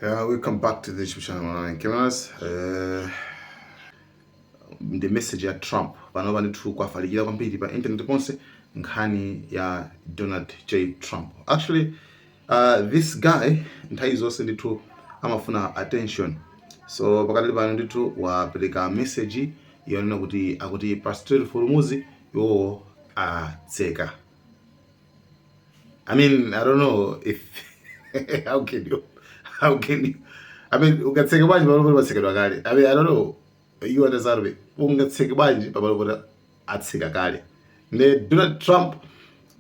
Yeah, welcome back to the YouTube channel Malawian Cameras. Uh, ndi message ya Trump pano pano ndithu kwafalikira kwambiri pa internet ponse nkhani ya Donald J Trump. Actually uh, this guy nthawi zonse ndithu amafuna attention so pakati pano ndithu wapereka message yonena kuti akuti pa Strait of Hormuz iwowo atseka I mean, I don't know if how can you how can you I mean ungatseke bwanji pamalo poti patsekedwa kale. I mean, I don't know you understand me. Ungatseke bwanji pamalo poti atseka kale. Ne Donald Trump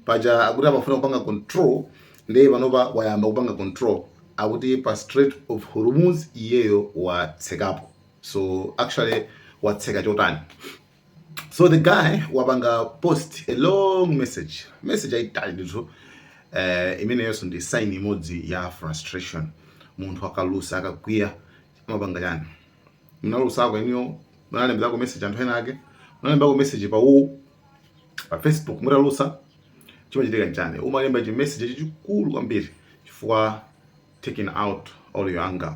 paja akuti amafuna kupanga control ndiye panopa wayamba kupanga control akuti pa Strait of Hormuz iyeyo watsekapo. So actually watseka chotani? so the guy wapanga post a long message message ayitali ndithu uh, imeneyonso ndi sign imodzi ya frustration munthu akalusa akakwiya amapanga chani munalusako inuyo munalembezako message anthu ena ake munalembako message pa u pa facebook mutalusa chimachitika nchani umalemba chi message chachikulu kwambiri chifukwa taking out all your anger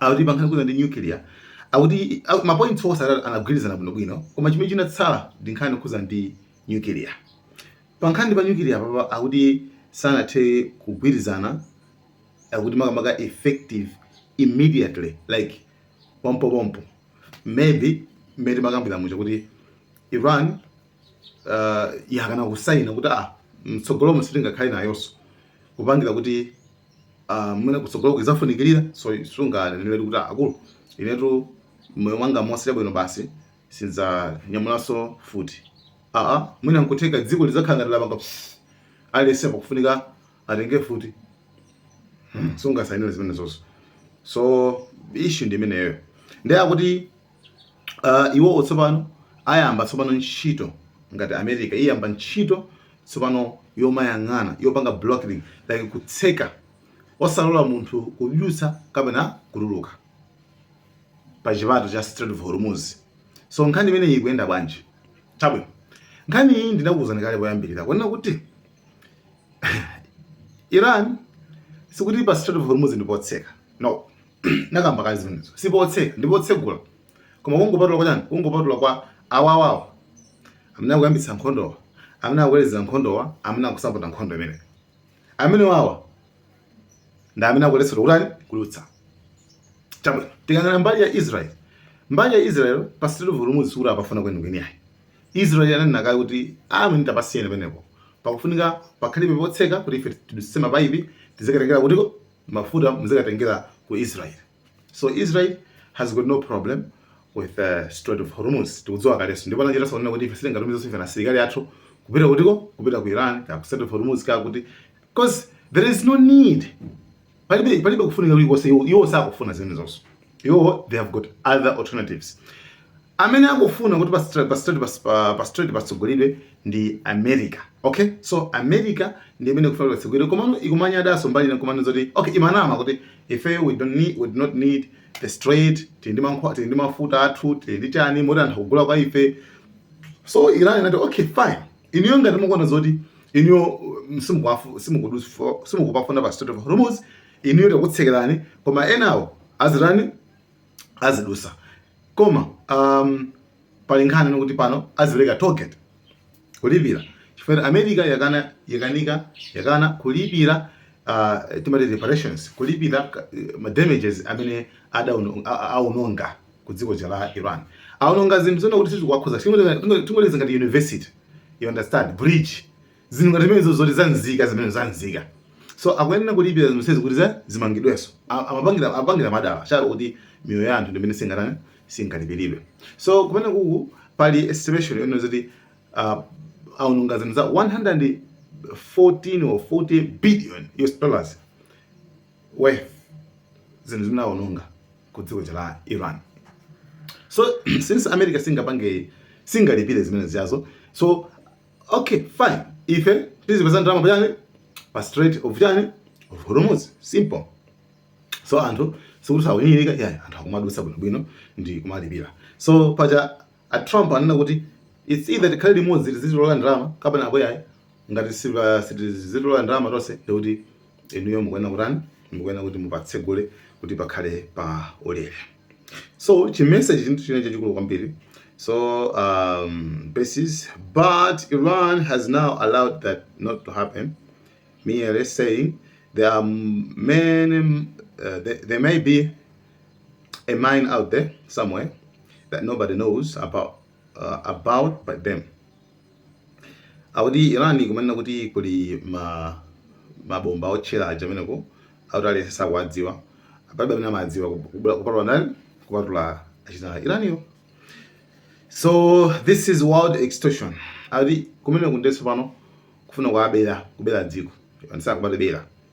akuti pankhani yokhudza ndi nuclear akuti au- mapoints onse anagwirizana bwinobwino koma chimene chinatsala ndi nkhani yokhudza ndi nuclear pankhani pa nuclear papa akuti sanathe kugwirizana akuti makamaka effective immediately like pompopompo maybe mmene timakambira muja kuti iran uh, yakana kusaina kuti ah mtsogolomo sitingakhale nayonso kupangira kuti uh, mwina kutsogoloko idzafunikirira so sunganenere kuti ah, akulu inetu moyo wanga monse bwino basi sindidzanyamulanso mfuti aa ah, ah, mwina nkutheka dziko lidzakhala ngati lapanga aliyense pakufunika atenge mfuti hmm, sungasainire zimenezozo so issue ndi imeneyo ndiye akuti uh, iwowo tsopano ayamba tsopano ntchito ngati america iyo yayamba ntchito tsopano yomayang'ana yopanga blocking like kutseka osalola munthu kudutsa kapena kutuluka pa chipato cha Strait of Hormuz so nkhani imeneyi ikuyenda bwanji chabwino nkhani iyi ndinakuwuzani kale poyambirira kunena kuti Iran sikuti pa Strait of Hormuz ndipotseka no nakamba kale zimenezo sipotseka ndi potsegula koma kungopatula kwa chani kungopatula kwa awawawa amene akuyambitsa nkhondowa amene akuwelezera nkhondowa amene akusapota nkhondo imeneyi amenewawa ndi amene akuletsedwa kutani kudutsa chabwino tikayang'ana mbali ya israel mbali ya israel pa Strait of Hormuz sikuti apafuna kwenikweni ayi israel ananena kale kuti amene ah, tapasiyeni penepo pakufunika pakhalibe potseka kuti ife tidutsitse mapaipi tizikatengera kutiko mafuta muzikatengera ku Israel so Israel has got no problem with the uh, Strait of Hormuz tikudziwa kalenso ndipo anachitanso kunena kuti ife sitingatumize ife na asilikali athu kupita kutiko kupita ku Iran ka ku Strait of Hormuz ka kuti because there is no need palibe palibe kufunika kulikonse iwo sakufuna zimenezonso iwo they have got other alternatives Amene akufuna kuti pa Strait pa Strait pa pa, pa Strait patsegulidwe ndi America. Okay? So America ndi imene ikufuna patsegulidwe komano ikumanyadanso mbali ina komano zoti okay ikumanama kuti ife we don't need we do not need the Strait tili ndi mankhwa tili ndi mafuta athu tili ndi chani moti anthu akugula kwa ife so Iran inati okay fine inuyo ngati mukuona zoti inuyo simukupafuna pa Strait of Hormuz inuyo takutsekerani koma enawo azitani azidutsa koma um, pali nkhani ndi kuti pano azipereka tollgate kulipira chifukwa america yakana yakanika yakana kulipira uh, timati reparations kulipira ka- ma damages amene adauno- a- a- aononga ku dziko lija la iran aononga zinthu zonena kuti sizikuwakhuza tingoyerekeza ngati university you understand bridge zinthu ngati zimenezo zoti za nzika zimenezo za nzika so akuyenera kulipira zinthu zonsezi kuti za zimangidwenso A- amapangira amapangira madala cholo kuti miyoyo ya anthu ndi imene singatani singalipiridwe so kumene kuku pali estimation yonena zoti uh, aononga zinthu za 114 or 40 billion US dollars worth zinthu zimene aononga ku dziko la Iran so since america singapange singalipire zimene zijazo so Okay, fine. Ife tizipeza ndalama pachani pa Strait of chani of Hormuz. Simple. So anthu sikuti sakunyinyirika iyayi anthu akumadutsa bwinobwino ndi kumalipira. So paja a Trump anena kuti it's either tikhale limodzi tizitola ndalama kapena apo iyayi ngati sitizitola ndalama tonse ndikuti inuyo mukuyenera kutani mukuyenera kuti mupatsegule kuti pakhale pa ulere so chimenechi chinthu china chachikulu kwambiri so um, basis but iran has now allowed that not to happen merely saying there are many uh, there, there may be a mine out there somewhere that nobody knows about uh, about but them akuti iran ikumanena kuti kuli ma mabomba otchera aja ameneko akuti aliyense sakuwadziwa palibe amene amadziwa kupatula ndani kupatula achina Iraniwo so this is world extortion akuti kumeneku ndenso pano kufuna kuabera kubera dziko ndisakubatibera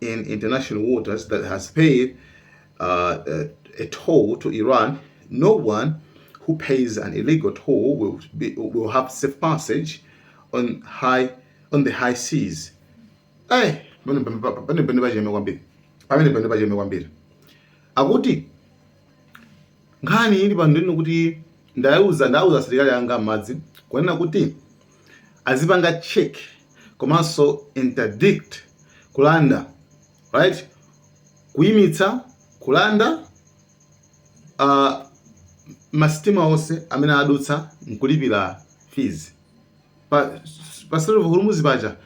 in international waters that has paid uh, a, a toll to Iran, no one who pays an illegal toll will, be, will have safe passage on high on the high seas. Hey, akuti nkhani ili pano ndi yoti ndauza ndauza asilikali anga a m'madzi kunena kuti azipanga check komanso interdict kulanda right kuyimitsa kulanda uh, masitima onse amene adutsa nkulipira fees pa pa Strait of Hormuz paja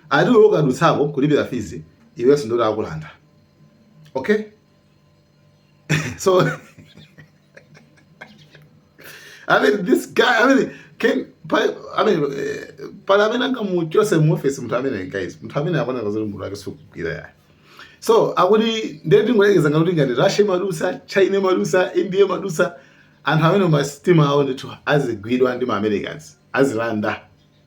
ati ukadutsako kulipira fees iwenso ndithu akulanda okay so I mean this guy I mean can I mean eh, palibe amene angamuchotse mu office munthu amene guys munthu amene akuona ngati zoti mutu wake sukugwira ya so akuti ndiye tingoyekeza ngati ngati Russia imadutsa China imadutsa India imadutsa anthu amene masitima awo ndithu azigwidwa ndi ma Americans azilanda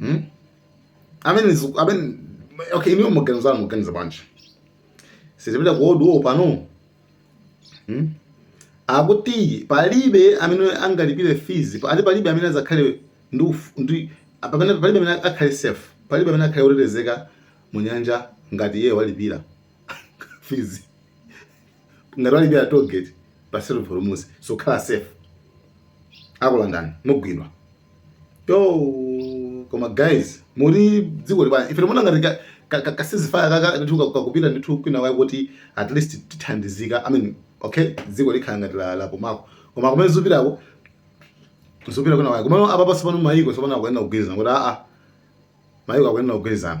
hmm? amene ziku- amene okay inuyo maganizo anu mukuganiza bwanji sitipita ku world war pano hmm? akuti palibe amene angalipire fees pa- ati palibe amene adzakhale ndi uf- ndi pamene palibe amene akhale safe palibe amene akhale otetezeka munyanja ngati iye walipira fees ngati walipira toll gate pa Strait of Hormuz sukhala safe akulandani mugwidwa yo koma guys muri dziko libana ife timaona ngati ka- ka- ka- ka ceasefire aka ndithu ka- kakupita ndithu kwinakwake kuti at least tithandizika i mean okay dziko likukhala ngati la- lapumako koma kumene zikupitako zikupita kwinakwake komano apa pansi pano mayiko tsopano akuyenera kugwirizana kuti aa mayiko akuyenera kugwirizana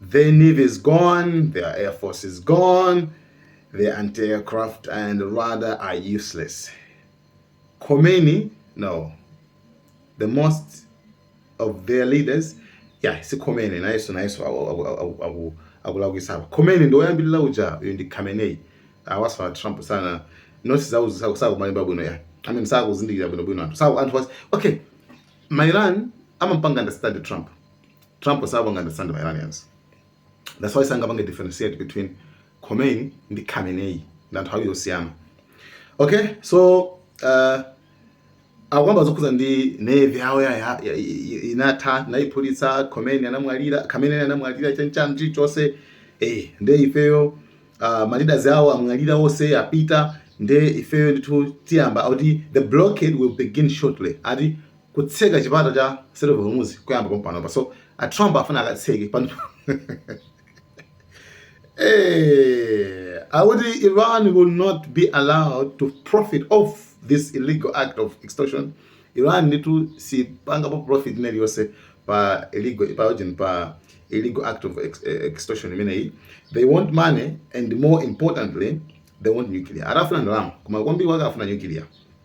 Their navy is gone, their air force is gone, their anti-aircraft and radar are useless. Khomeini, no. The most of their leaders, yeah, si Khomeini, nayenso nayenso akulakwisa. Khomeini ndi woyambirira uja uyu ndi Khamenei. Awaswa Trump sana. Noti zauzi sakumalimba bwino ya. I mean sakuzindikira bwino bwino anthu. Saku anthu was okay. Ma Iran amampanga understand Trump. Trump sawapanga understand ma Iranians. That's why sangapange differentiate between Khomeini ndi Khamenei ndi anthu awiri osiyana. Okay, so uh, akukamba zokhudza ndi navy yawo ya inatha tinaiphulitsa Khomeini anamwalira Khamenei anamwalira chancham chichonse eh nde ifeyo uh, ah, ma leaders awo amwalira onse apita nde ifeyo ndithu tiyamba kuti the blockade will begin shortly ati kutseka chipata cha Strait of Hormuz kuyamba pompanopa so a Trump afuna akatseke pano eh akuti Iran will not be allowed to profit off this illegal act of extortion Iran ndithu sipangapo profit ina iliyonse pa illegal pa ujin pa illegal act of ex eh, extortion imeneyi they want money and more importantly they want nuclear akufuna ndalama koma kwambiri wake afuna nuclear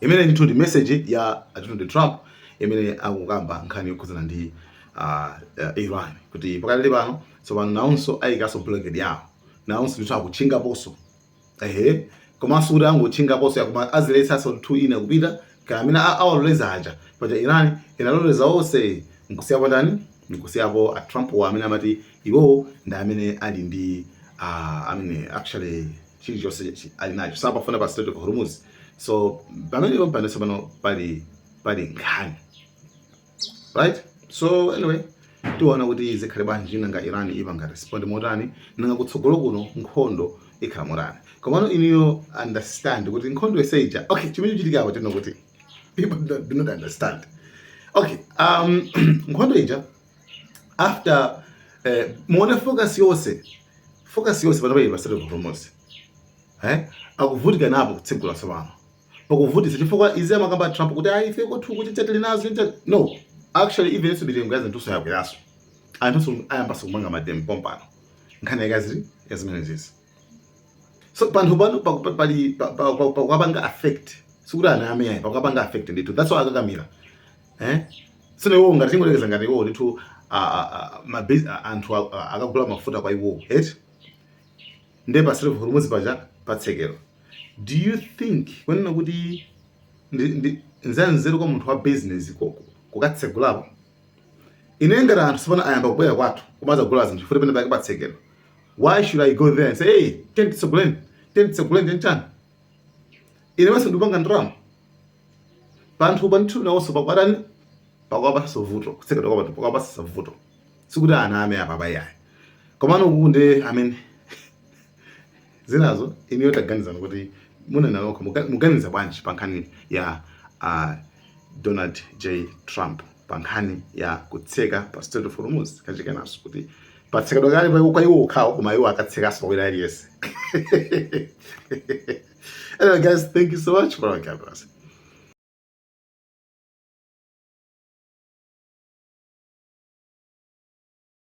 Imeneyi ndithu ndi message ya Donald Trump imene akukamba nkhani yokhudzana ndi uh, uh, Iran kuti pakali pano tsopano nawonso ayikaso blockade yawo nawonso ndithu akutchingaponso ehe komanso sikuti angotchingaponso ayi koma aziletsanso anthu ena kupita kaya amene awaloleza aja paja Iran inaloleza onse nkusiyapo ndani nkusiyapo a Trump wa amene amati iwowo ndi amene ali ndi uh, amene actually chilichonse chi- ali nacho sapafuna pa Strait of Hormuz so pamenepo pano tsopano pali pali nkhani right so anyway tiona kuti zikhale bwanji nanga iran ipanga respond motani nanga kutsogolo kuno nkhondo ikhala motani komano inuyo understand kuti nkhondo yonse ija okay chimene chachitikapo ndi kuti people don't- do not understand okay um nkhondo ija after eh, muone focus yonse focus yonse pano pali pa Strait of Hormuz eh akuvutika napo kutsegula tsopano pakuvutitsa chifukwa izi amakamba Trump kuti ayi ife kwathu kuti sitili nazo ntchito no actually even US mitengo ya zinthunso yakweranso anthunso ayambanso kupanga mademo pompano nkhani yake ili ya zimenezizi so panthu pano pali pakuwapanga affect sikuti aname yayi pakuwapanga affect ndithu that's why akakamira eh sino iwo ngati tingoyerekeza ngati iwo ndithu anthu akagula mafuta kwa iwo eti nde pa Strait of Hormuz paja patsekedwa do you think kunena kuti nzanzeru kwa munthu wa business kukatsegulapo ine ngati anthu tsopano ayamba kubwera kwathu kumadzagula zinthu futi penapake patsekedwa why should i go there and say hey tiyeni titseguleni tiyeni titseguleni tiyeni chani ine maso ndikupanga ndalama panthu panthu nawonso pakuwatani pakuwapatsa vuto kutsekedwa kwa panthu pakuwapatsa vuto sikuti aname apapa yayi komano uku ndi amene zinazo inuyo taganizani kuti munena nokha muga- muganiza bwanji pa nkhani ya uh, donald j trump pa nkhani ya kutseka pa strait of hormuz kachikenanso kuti patsekedwa kale pa- kwa iwo okhawo koma iwo akatsekanso kwa wina aliyense anyway guys thank you so much for our cameras